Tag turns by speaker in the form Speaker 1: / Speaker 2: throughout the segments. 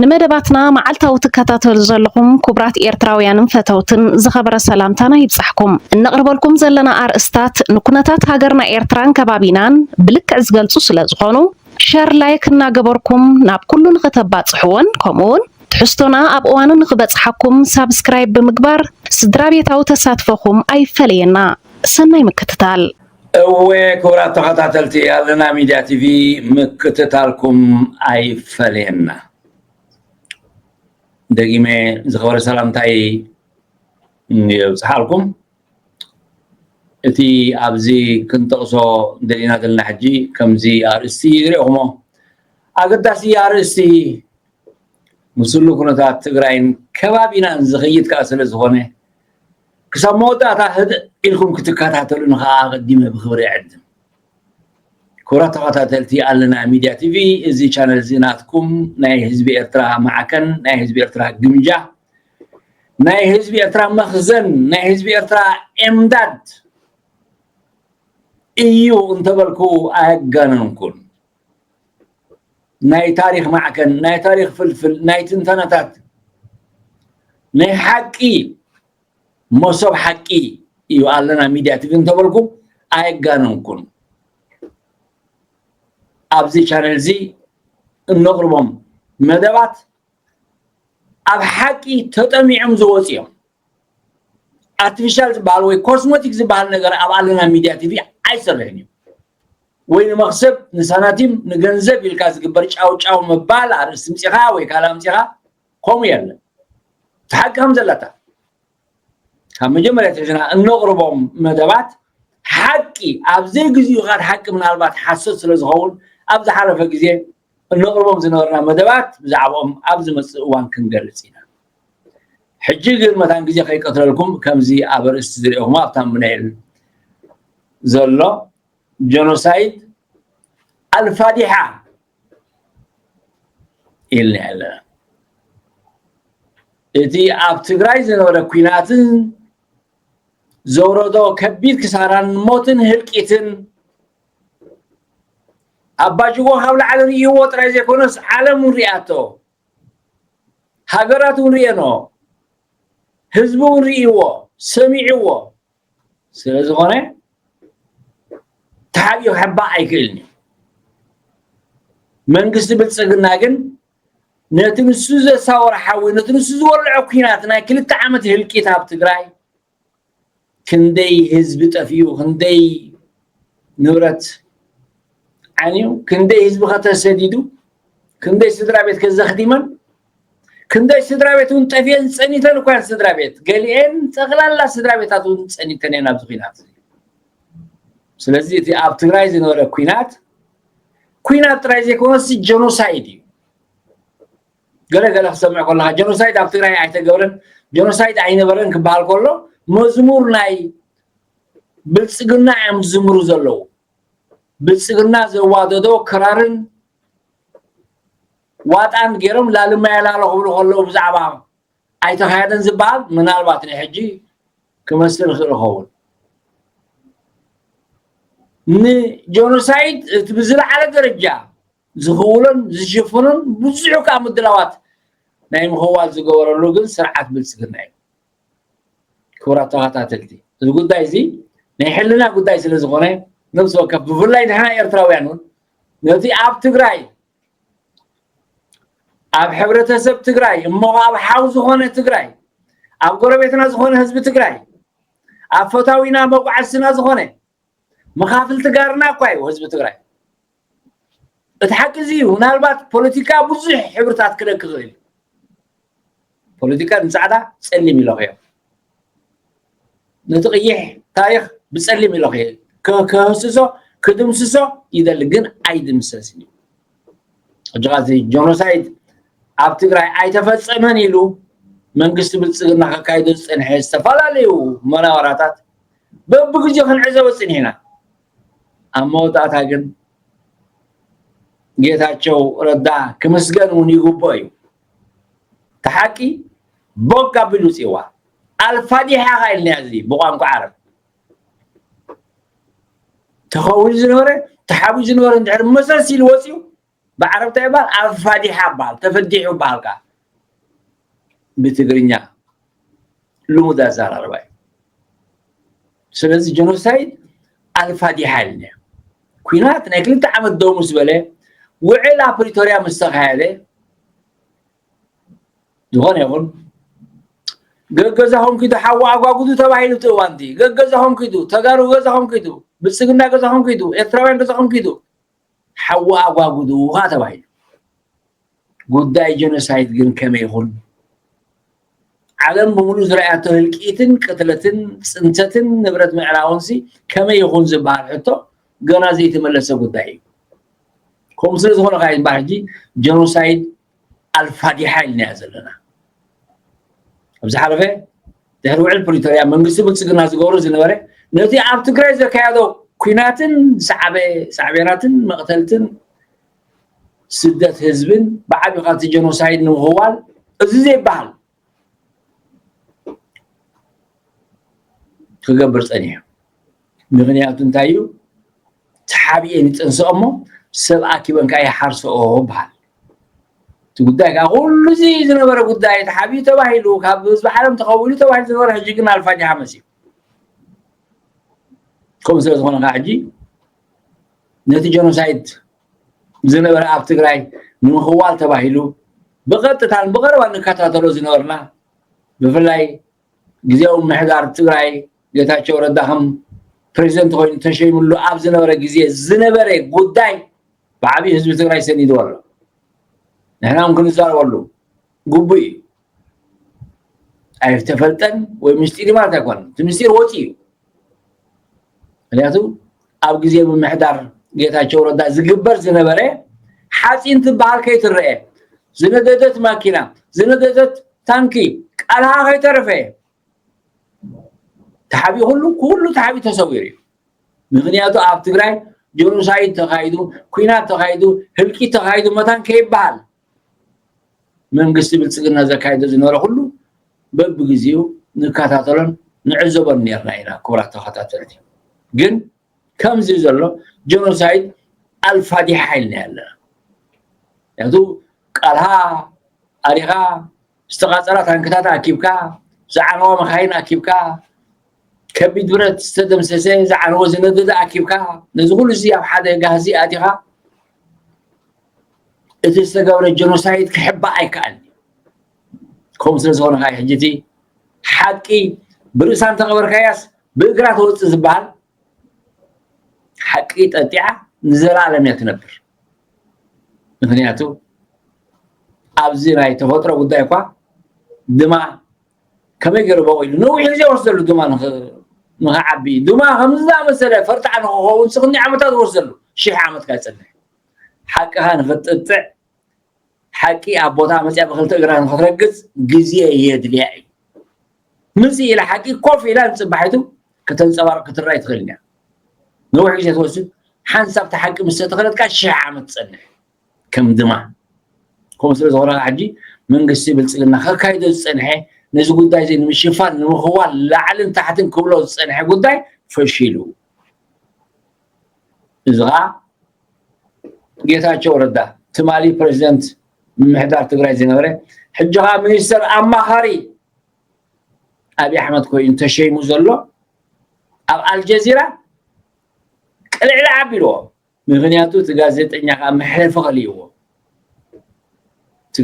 Speaker 1: ንመደባትና መዓልታዊ ትከታተሉ ዘለኹም ኩቡራት ኤርትራውያንን ፈተውትን ዝኸበረ ሰላምታና ይብጻሕኩም። እነቕርበልኩም ዘለና ኣርእስታት ንኩነታት ሃገርና ኤርትራን ከባቢናን ብልክዕ ዝገልጹ ስለዝኾኑ ሸር ላይክ እናገበርኩም ናብ ኩሉ ንኽተባጽሕዎን ከምኡውን ትሕዝቶና ኣብ እዋኑ ንኽበጽሓኩም ሳብስክራይብ ብምግባር ስድራቤታዊ ተሳትፎኹም ኣይፈለየና። ሰናይ ምክትታል። እወ ክቡራት
Speaker 2: ተኸታተልቲ ኣለና ሚድያ ቲቪ ምክትታልኩም ኣይፈለየና። ደጊመ ዝኸበረ ሰላምታይ የብፅሓልኩም። እቲ ኣብዚ ክንጠቕሶ ደሊና ዘለና ሕጂ ከምዚ ኣርእስቲ ይሪኦኹሞ ኣገዳሲ ኣርእስቲ ምስሉ ኩነታት ትግራይን ከባቢናን ዝኽይድ ከዓ ስለ ዝኾነ ክሳብ መወዳእታ ህድእ ኢልኩም ክትከታተሉኒ ከዓ ኣቐዲመ ብኽብሪ እዕድም። ክብራት ተኸታተልቲ ኣለና ሚድያ ቲቪ እዚ ቻነል እዚ ናትኩም ናይ ህዝቢ ኤርትራ ማዕከን ናይ ህዝቢ ኤርትራ ግምጃ ናይ ህዝቢ ኤርትራ መኽዘን ናይ ህዝቢ ኤርትራ ኤምዳድ እዩ እንተበልኩ ኣየጋነንኩን ናይ ታሪኽ ማዕከን ናይ ታሪኽ ፍልፍል ናይ ትንተናታት ናይ ሓቂ መሶብ ሓቂ እዩ ኣለና ሚድያ ትግ እንተበልኩ ኣየጋነንኩን ኣብዚ ቻነል እዚ እነቕርቦም መደባት ኣብ ሓቂ ተጠሚዖም ዝወፅ እዮም ኣርቲፊሻል ዝበሃል ወይ ኮስሞቲክ ዝበሃል ነገር ኣብ ኣለና ሚድያ ቲቪ ኣይሰርሕን እዩ ወይ ንመኽሰብ ንሳናቲም ንገንዘብ ኢልካ ዝግበር ጫውጫው ምባል ኣርእስቲ ምጺኻ ወይ ካልእ ኣምጺኻ ከምኡ የለን እቲ ሓቂ ከም ዘለታ ካብ መጀመርያ ትሕዝና እነቕርቦም መደባት ሓቂ ኣብ ዘይግዚኡ ኻድ ሓቂ ምናልባት ሓሶት ስለ ዝኸውን ኣብ ዝሓለፈ ግዜ እነቕርቦም ዝነበርና መደባት ብዛዕባኦም ኣብ ዝመጽእ እዋን ክንገልጽ ኢና። ሕጂ ግን መታን ግዜ ከይቀትለልኩም ከምዚ ኣብ ኣርእስቲ ዝርኤኹሞ ኣብ ታምብነይል ዘሎ ጀኖሳይድ ኣልፋዲሓ ኢልና ኣለና እቲ ኣብ ትግራይ ዝነበረ ኩናትን ዘውረዶ ከቢድ ክሳራን ሞትን ህልቂትን ኣባጅጎ ካብ ላዕሊ ርእይዎ ጥራይ ዘይኮነስ ዓለም እውን ሪኣቶ ሃገራት እውን ሪኤኖ ህዝቢ እውን ርእይዎ ሰሚዕዎ ስለ ዝኾነ ተሓቢኡ ክሕባእ ኣይክእልን እዩ መንግስቲ ብልፅግና ግን ነቲ ንሱ ዘሳወረ ሓዊ ነቲ ንሱ ዝወልዖ ኩናት ናይ ክልተ ዓመት ህልቂት ኣብ ትግራይ ክንደይ ህዝቢ ጠፊኡ ክንደይ ንብረት ዓንዩ ክንደይ ህዝቢ ከተሰዲዱ ክንደይ ስድራ ቤት ከዘኽቲመን ክንደይ ስድራ ቤት እውን ጠፍኤን ፀኒተን እኳ እየን ስድራ ቤት ገሊኤን ጠቕላላ ስድራ ቤታት እውን ፀኒተን እየን ኣብዚ ኩናት ስለዚ እቲ ኣብ ትግራይ ዝነበረ ኩናት ኩናት ጥራይ ዘይኮነስ ጀኖሳይድ እዩ ገለ ገለ ክሰምዕ ከለካ ጀኖሳይድ ኣብ ትግራይ ኣይተገብረን ጀኖሳይድ ኣይነበረን ክበሃል ከሎ መዝሙር ናይ ብልፅግና እዮም ዝዝምሩ ዘለዉ ብልፅግና ዘዋደዶ ክራርን ዋጣን ገይሮም ላልማ የላሎ ክብሉ ከለዉ ብዛዕባ ኣይተካየደን ዝበሃል ምናልባት ናይ ሕጂ ክመስል ይኽእል ይኸውን ንጀኖሳይድ እቲ ብዝለዓለ ደረጃ ዝኽውሎን ዝሽፍኑን ብዙሕ ከኣ ምድላዋት ናይ ምኽዋል ዝገበረሉ ግን ስርዓት ብልጽግና እዩ። ክቡራት ተኸታተልቲ እዚ ጉዳይ እዚ ናይ ሕልና ጉዳይ ስለ ዝኾነ ነብሲ ወከፍ ብፍላይ ንሕና ኤርትራውያን እውን ነቲ ኣብ ትግራይ ኣብ ሕብረተሰብ ትግራይ እሞ ኣብ ሓው ዝኾነ ትግራይ ኣብ ጎረቤትና ዝኾነ ህዝቢ ትግራይ ኣብ ፈታዊና መጓዓዝትና ዝኾነ መኻፍልቲ ጋርና እኳ እዩ ህዝቢ ትግራይ እቲ ሓቂ እዚ እዩ ምናልባት ፖለቲካ ብዙሕ ሕብርታት ክደክ ክእል ፖለቲካ ንፃዕዳ ፀሊም ኢለኽዮ ነቲ ቅይሕ ታሪክ ብፀሊም ኢለኽዮ ክህስሶ ክድምስሶ ይደሊ ግን ኣይድምሰስን እዩ ሕጂ ኸዚ ጆኖሳይድ ኣብ ትግራይ ኣይተፈፀመን ኢሉ መንግስቲ ብልፅግና ከካይዶ ዝፀንሐ ዝተፈላለዩ መናወራታት በብግዜኡ ክንዕዘቦ ፅኒሕና ኣብ መወዳእታ ግን ጌታቸው ረዳ ክምስገን እውን ይግብኦ እዩ እቲ ሓቂ ቦግ ኣቢሉ ውፅእዋ ኣልፋዲሓ ካ ኢልናዮ እዚ ብቋንቋ ዓረብ ተኸዊሉ ዝነበረ ተሓቢኡ ዝነበረ እንድሕር መሰስ ኢሉ ወፅኡ ብዓረብ እንታይ ይብሃል ኣብ ፋዲሓ ይብሃል ተፈዲሑ በሃልካ ብትግርኛ ልሙድ ኣዘራርባ እዩ ስለዚ ጀኖሳይድ ኣልፋዲሓ ኢልና ኩናት ናይ ክልተ ዓመት ደው ምስ በለ ውዕል ኣብ ፕሪቶርያ ምስ ተካየደ ዝኾነ ይኹን ገገዛኹም ኪዱ ሓዋ ኣጓጉዱ ተባሂሉ እቲ እዋን እቲ ገገዛኹም ኪዱ ተጋሩ ገዛኹም ኪዱ ብልፅግና ገዛኹም ኪዱ ኤርትራውያን ገዛኹም ኪዱ ሓዊ ኣጓጉድኡ ኸኣ ተባሂሉ። ጉዳይ ጀኖሳይድ ግን ከመይ ይኹን? ዓለም ብምሉእ ዝረኣያቶ ህልቂትን ቅትለትን ጽንተትን ንብረት ምዕራውንሲ ከመይ ይኹን ዝበሃል ሕቶ ገና ዘይተመለሰ ጉዳይ እዩ። ከምኡ ስለ ዝኾነ ከኣ እዩ እምበኣር ሕጂ ጀኖሳይድ ኣልፋዲሓ ኢልናያ ዘለና ኣብ ዝሓለፈ ድሕሪ ውዕል ፕሪቶርያ መንግስቲ ብልፅግና ዝገብሮ ዝነበረ ነቲ ኣብ ትግራይ ዘካየዶ ኩናትን ዝሰዓበ ሳዕቤናትን መቕተልትን ስደት ህዝብን ብዓቢኻ እቲ ጀኖሳይድ ንምኽዋል እዚ ዘይበሃል ክገብር ፀኒሑ ምክንያቱ እንታይ እዩ ተሓቢኤን ይፀንስኦ እሞ ሰብ ኣኪበን ከዓ ይሓርስኦ በሃል እቲ ጉዳይ ከዓ ኩሉ እዚ ዝነበረ ጉዳይ ተሓቢኡ ተባሂሉ ካብ ህዝቢ ዓለም ተኸዊሉ ተባሂሉ ዝነበረ ሕጂ ግን ኣልፋጅሓ መፅኡ ከምኡ ስለ ዝኾነ ከዓ ሕጂ ነቲ ጀኖሳይድ ዝነበረ ኣብ ትግራይ ንምኽዋል ተባሂሉ ብቐጥታን ብቐረባ ንከታተሎ ዝነበርና ብፍላይ ግዜያዊ ምሕዳር ትግራይ ጌታቸው ረዳ ከም ፕሬዚደንት ኮይኑ ተሸይምሉ ኣብ ዝነበረ ግዜ ዝነበረ ጉዳይ ብዓብዪ ህዝቢ ትግራይ ሰኒድዎ ኣሎ ንሕና እውን ክንዛረበሉ ግቡእ እዩ ኣይተፈልጠን ወይ ምስጢር ማለት ኣይኮነን እቲ ምስጢር ወፂ እዩ ምክንያቱ ኣብ ግዜ ምምሕዳር ጌታቸው ረዳ ዝግበር ዝነበረ ሓፂን ትበሃል ከይትረአ ዝነደደት ማኪና ዝነደደት ታንኪ ቃልሃ ከይተረፈ ተሓቢ ኩሉ ኩሉ ተሓቢ ተሰዊሩ እዩ ምክንያቱ ኣብ ትግራይ ጆኖሳይድ ተኻይዱ ኩናት ተኻይዱ ህልቂት ተኻይዱ መታን ከይበሃል መንግስቲ ብልፅግና ዘካይዶ ዝነበረ ኩሉ በብግዜኡ ንከታተሎን ንዕዘቦን ነርና ኢና ክቡራት ተኸታተልቲ ግን ከምዚ ዘሎ ጀኖሳይድ ኣልፋዲሓ ኢልና ኣለና ምክንያቱ ቃልሃ ኣሪኻ ዝተቃፀላ ታንክታት ኣኪብካ ዝዓነዋ መካይን ኣኪብካ ከቢድ ብረት ዝተደምሰሰ ዝዓነወ ዝነደደ ኣኪብካ ነዚ ኩሉ እዚ ኣብ ሓደ ጋህዚ ኣቲኻ እቲ ዝተገብረ ጀኖሳይድ ክሕባእ ኣይከኣልን ከምኡ ስለ ዝኾነ ከዓ ሕጂ እቲ ሓቂ ብርእሳ እንተቐበርካያስ ብእግራ ተወፅእ ዝበሃል ሓቂ ጠጢዓ ንዘለኣለም እያ ትነብር ምክንያቱ ኣብዚ ናይ ተፈጥሮ ጉዳይ እኳ ድማ ከመይ ገይሩ በቂሉ ነዊሕ ግዜ ወስደሉ ድማ ንክዓቢ ድማ ከምዚ ዝኣመሰለ ፈርጣዕ ንክኸውን ስክኒ ዓመታት ወስደሉ ሽሕ ዓመት ካይፀንሕ ሓቅኻ ንኽትጥጥዕ ሓቂ ኣብ ቦታ መፅያ ብክልተ እግራ ንኽትረግፅ ግዜ የድልያ እዩ ምፅእ ኢላ ሓቂ ኮፍ ኢላ ንፅባሒቱ ከተንፀባርቕ ክትረኣይ ትኽእል እያ ነዊሕ ግዜ ትወስድ ሓንሳብ ተሓቂ ምስ ተተኸለትካ ሽሕ ዓመት ትፀንሕ ከም ድማ ከምኡ ስለ ዝኾነ ሕጂ መንግስቲ ብልፅግና ከካይዶ ዝፀንሐ ነዚ ጉዳይ እዚ ንምሽፋን ንምኽዋል ላዕልን ታሕትን ክብሎ ዝፀንሐ ጉዳይ ፈሺሉ እዚ ከዓ ጌታቸው ረዳ ትማሊ ፕሬዚደንት ምምሕዳር ትግራይ ዝነበረ ሕጂ ከዓ ሚኒስተር ኣማኻሪ ኣብዪ ኣሕመድ ኮይኑ ተሸይሙ ዘሎ ኣብ ኣልጀዚራ ቅልዕሊ ኣቢልዎ ምኽንያቱ እቲ ጋዜጠኛ ከኣ መሕለፊ ከልይዎ እቲ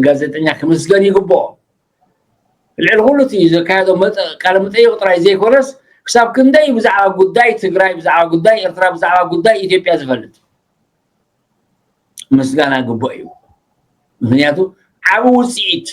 Speaker 2: ጋዜጠኛ ክምስገን ይግብኦ ልዕሊ ኩሉ እቲ ዘካየዶ ቃለ መጠይቕ ጥራይ ዘይኮነስ ክሳብ ክንደይ ብዛዕባ ጉዳይ ትግራይ ብዛዕባ ጉዳይ ኤርትራ ብዛዕባ ጉዳይ ኢትዮጵያ ዝፈልጥ ምስጋና ግቡእ እዩ ምክንያቱ ዓብ ውፅኢት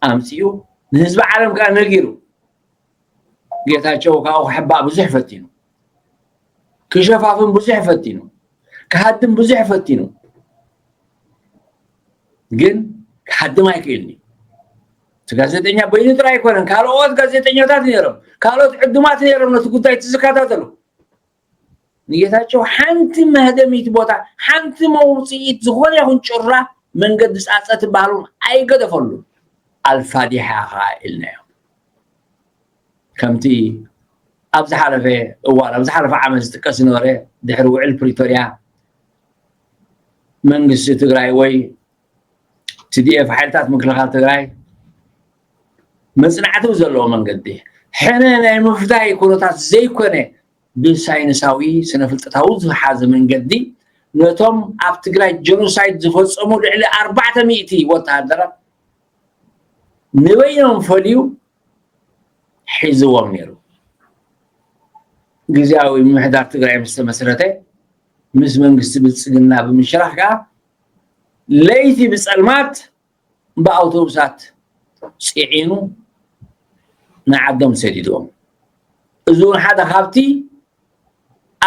Speaker 2: ኣምፅኡ ንህዝቢ ዓለም ከዓ ነጊሩ ጌታቸው ካብኡ ክሕባእ ብዙሕ ፈቲኑ ክሸፋፍን ብዙሕ ፈቲኑ ክሃድም ብዙሕ ፈቲኑ ግን ክሓድም ኣይክእልኒ እቲ ጋዜጠኛ በይኑ ጥራይ ኣይኮነን ካልኦት ጋዜጠኛታት ነይሮም ካልኦት ዕዱማት ነይሮም ነቲ ጉዳይ እቲ ዝከታተሉ ንጌታቸው ሓንቲ መህደሚት ቦታ ሓንቲ መውፅኢት ዝኾነ ይኹን ጭራ መንገዲ ፃፀ ትበሃሉን ኣይገደፈሉን ኣልፋዲሓ ከዓ ኢልናዮ ከምቲ ኣብ ዝሓለፈ እዋን ኣብ ዝሓለፈ ዓመት ዝጥቀስ ዝነበረ ድሕሪ ውዕል ፕሪቶርያ መንግስቲ ትግራይ ወይ ቲዲኤፍ ሓይልታት ምክልኻል ትግራይ መፅናዕቲ ብዘለዎ መንገዲ ሕነ ናይ ምፍዳይ ኩነታት ዘይኮነ ብሳይንሳዊ ስነ ፍልጠታዊ ዝሓዘ መንገዲ ነቶም ኣብ ትግራይ ጀኖሳይድ ዝፈፀሙ ልዕሊ ኣርባዕተ ሚእቲ ወተሃደራት ንበይኖም ፈልዩ ሒዝዎም ነይሩ ግዜያዊ ምምሕዳር ትግራይ ምስ ተመስረተ ምስ መንግስቲ ብልፅግና ብምሽራኽ ከዓ ለይቲ ብጸልማት ብኣውቶቡሳት ጽዒኑ ንዓዶም ሰዲድዎም። እዚ እውን ሓደ ካብቲ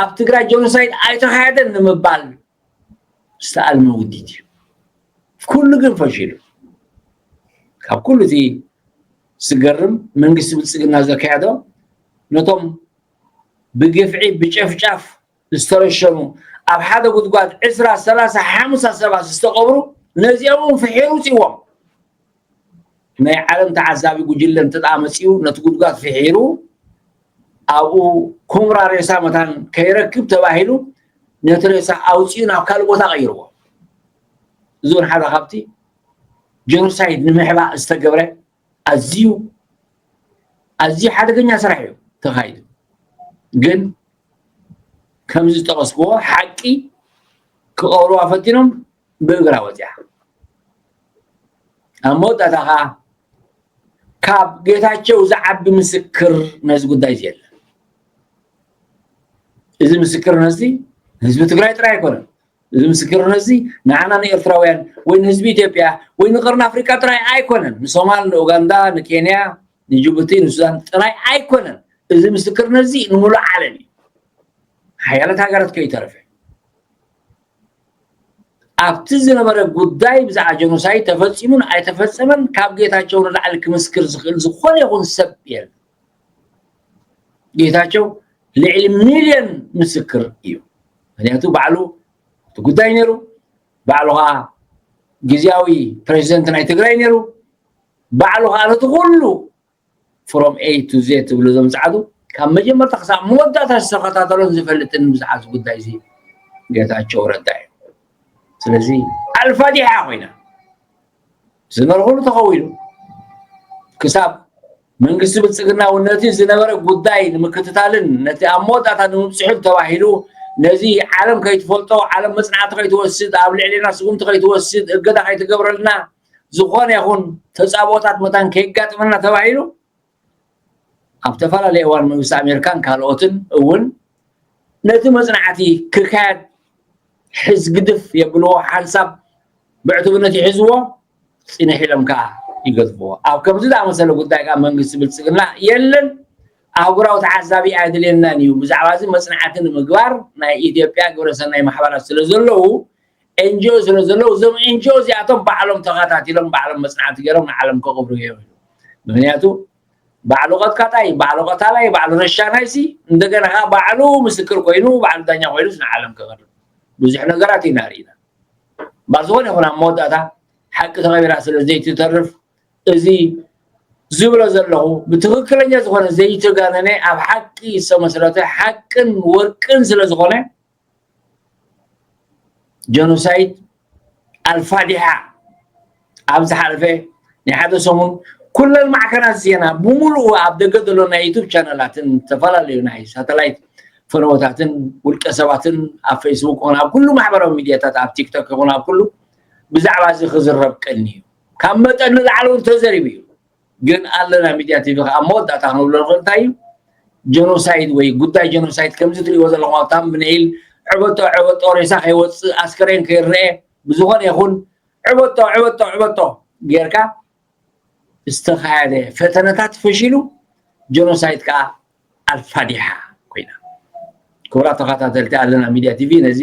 Speaker 2: ኣብ ትግራይ ጀኖሳይድ ኣይተኻየደን ንምባል ዝተኣልመ ውዲት እዩ። ኩሉ ግን ፈሺሉ። ካብ ኩሉ እቲ ዝገርም መንግስቲ ብልፅግና ዘካየዶ ነቶም ብግፍዒ ብጨፍጫፍ ዝተረሸኑ ኣብ ሓደ ጉድጓድ ዕስራ ሰላሳ ሓምሳ ሰባት ዝተቐብሩ ነዚኦም እውን ፍሒሩ ውፅዎም ናይ ዓለም ተዓዛቢ ጉጅለ እንተደኣ መፂኡ ነቲ ጉድጓድ ፍሒሩ ኣብኡ ኩምራ ሬሳ መታን ከይረክብ ተባሂሉ ነቲ ሬሳ ኣውፅኡ ናብ ካልእ ቦታ ቀይርዎ እዚ እውን ሓደ ካብቲ ጀኖሳይድ ንምሕባእ ዝተገብረ ኣዝዩ ኣዝዩ ሓደገኛ ስራሕ እዩ ተኻይዱ ግን ከምዚ ዝጠቐስክዎ ሓቂ ክቐብርዋ ፈቲኖም ብእግራ ወፂኣ ኣብ መወዳእታ ከዓ ካብ ጌታቸው ዝዓቢ ምስክር ነዚ ጉዳይ እዚ የለን እዚ ምስክርነት እዚ ህዝቢ ትግራይ ጥራይ ኣይኮነን እዚ ምስክርነት እዚ ንዓና ንኤርትራውያን ወይ ንህዝቢ ኢትዮጵያ ወይ ንቀርኒ ኣፍሪቃ ጥራይ ኣይኮነን ንሶማል ንኡጋንዳ ንኬንያ ንጅቡቲ ንሱዳን ጥራይ ኣይኮነን እዚ ምስክርነት እዚ ንሙሉእ ዓለም እዩ ሓያለት ሃገራት ከይተረፈ ኣብቲ ዝነበረ ጉዳይ ብዛዕባ ጀኖሳይድ ተፈፂሙን ኣይተፈፀመን ካብ ጌታቸው ንላዕሊ ክምስክር ዝኽእል ዝኾነ ይኹን ሰብ የለን ጌታቸው ልዕሊ ሚልዮን ምስክር እዩ ምክንያቱ ባዕሉ እቲ ጉዳይ ነይሩ ባዕሉ ከዓ ግዜያዊ ፕሬዚደንት ናይ ትግራይ ነይሩ ባዕሉ ከዓ ነቲ ኩሉ ፍሮም ኤ ቱ ዜ ትብሉ እዞም ፀዓዱ ካብ መጀመርታ ክሳብ መወዳእታ ዝተኸታተሎን ዝፈልጥን ብዛዕባ ጉዳይ እዚ ጌታቸው ረዳ እዩ ስለዚ ኣልፋዲሓ ኮይና ዝመርሑሉ ተኸዊሉ ክሳብ መንግስቲ ብልፅግና እውን ነቲ ዝነበረ ጉዳይ ንምክትታልን ነቲ ኣብ መወዳእታ ንምብፅሑን ተባሂሉ ነዚ ዓለም ከይትፈልጦ ዓለም መፅናዕቲ ከይትወስድ ኣብ ልዕሌና ስጉምቲ ከይትወስድ እገዳ ከይትገብረልና ዝኾነ ይኹን ተፃብኦታት መታን ከይጋጥመና ተባሂሉ ኣብ ተፈላለየ እዋን መንግስቲ ኣሜሪካን ካልኦትን እውን ነቲ መፅናዕቲ ክካየድ ሕዝ ግድፍ የብልዎ ሓንሳብ ብዕቱብነት ይሕዝዎ ፅንሕ ኢሎም ከዓ ይገድፍዎ ኣብ ከምዚ ዝኣመሰለ ጉዳይ ከዓ መንግስቲ ብልፅግና የለን ኣህጉራዊ ተዓዛቢ ኣየድልየናን እዩ ብዛዕባ እዚ መፅናዕቲ ንምግባር ናይ ኢትዮጵያ ግብረሰናይ ማሕበራት ስለ ዘለዉ ኤንጅኦ ስለ ዘለዉ እዞም ኤንጅኦ እዚኣቶም ባዕሎም ተኻታቲሎም ባዕሎም መጽናዕቲ ገይሮም ንዓለም ከቕብሩ እዮም ኢሉ ምክንያቱ ባዕሉ ቀጥቃጣይ ባዕሉ ቀታላይ ባዕሉ ረሻናይሲ እንደገና ከኣ ባዕሉ ምስክር ኮይኑ ባዕሉ ዳኛ ኮይኑስ ንዓለም ከቕርብ ብዙሕ ነገራት ኢና ርኢና እምበር ዝኾነ ይኹን ኣብ መወዳእታ ሓቂ ተቐቢራ ስለ ዘይትተርፍ እዚ ዝብሎ ዘለኹ ብትኽክለኛ ዝኾነ ዘይተጋነነ ኣብ ሓቂ ዝተመስረተ ሓቅን ወርቅን ስለ ዝኾነ ጀኖሳይድ ኣልፋዲሓ ኣብ ዝሓለፈ ናይ ሓደ ሰሙን ኩለን ማዕከናት ዜና ብምሉኡ ኣብ ደገ ዘሎ ናይ ዩቱብ ቻነላትን ዝተፈላለዩ ናይ ሳተላይት ፈነወታትን ውልቀ ሰባትን ኣብ ፌስቡክ ይኹን ኣብ ኩሉ ማሕበራዊ ሚድያታት ኣብ ቲክቶክ ይኹን ኣብ ኩሉ ብዛዕባ እዚ ክዝረብ ቀኒ እዩ ካብ መጠን ንላዕሊ እውን ተዘሪቡ እዩ ግን ኣለና ሚድያ ቲቪ ከኣ ኣብ መወዳእታ ክንብሎ ንኽእል እንታይ እዩ ጀኖሳይድ ወይ ጉዳይ ጀኖሳይድ ከምዚ ትሪእዎ ዘለኹም ኣብ ታምብነይል ዕበጦ ዕበጦ ሬሳ ከይወፅእ ኣስከሬን ከይረአ ብዝኾነ ይኹን ዕበጦ ዕበጦ ዕበጦ ጌርካ ዝተኻየደ ፈተነታት ፈሺሉ ጀኖሳይድ ከዓ ኣልፋዲሓ ኮይና ክቡራት ተኸታተልቲ ኣለና ሚድያ ቲቪ ነዚ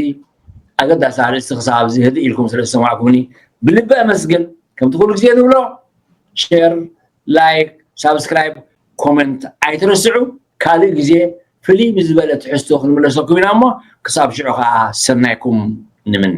Speaker 2: ኣገዳሲ ኣርእስቲ ክሳብ ኣብዚ ህድእ ኢልኩም ስለ ዝሰማዕኩምኒ ብልቢ ኣመስግን ከምቲ ኩሉ ግዜ ንብሎ ሸር ላይክ ሳብስክራይብ ኮመንት ኣይትረስዑ ካልእ ግዜ ፍልይ ብዝበለ ትሕዝቶ ክንምለሰኩም ኢና እሞ ክሳብ ሽዑ ከዓ ሰናይኩም ንምነ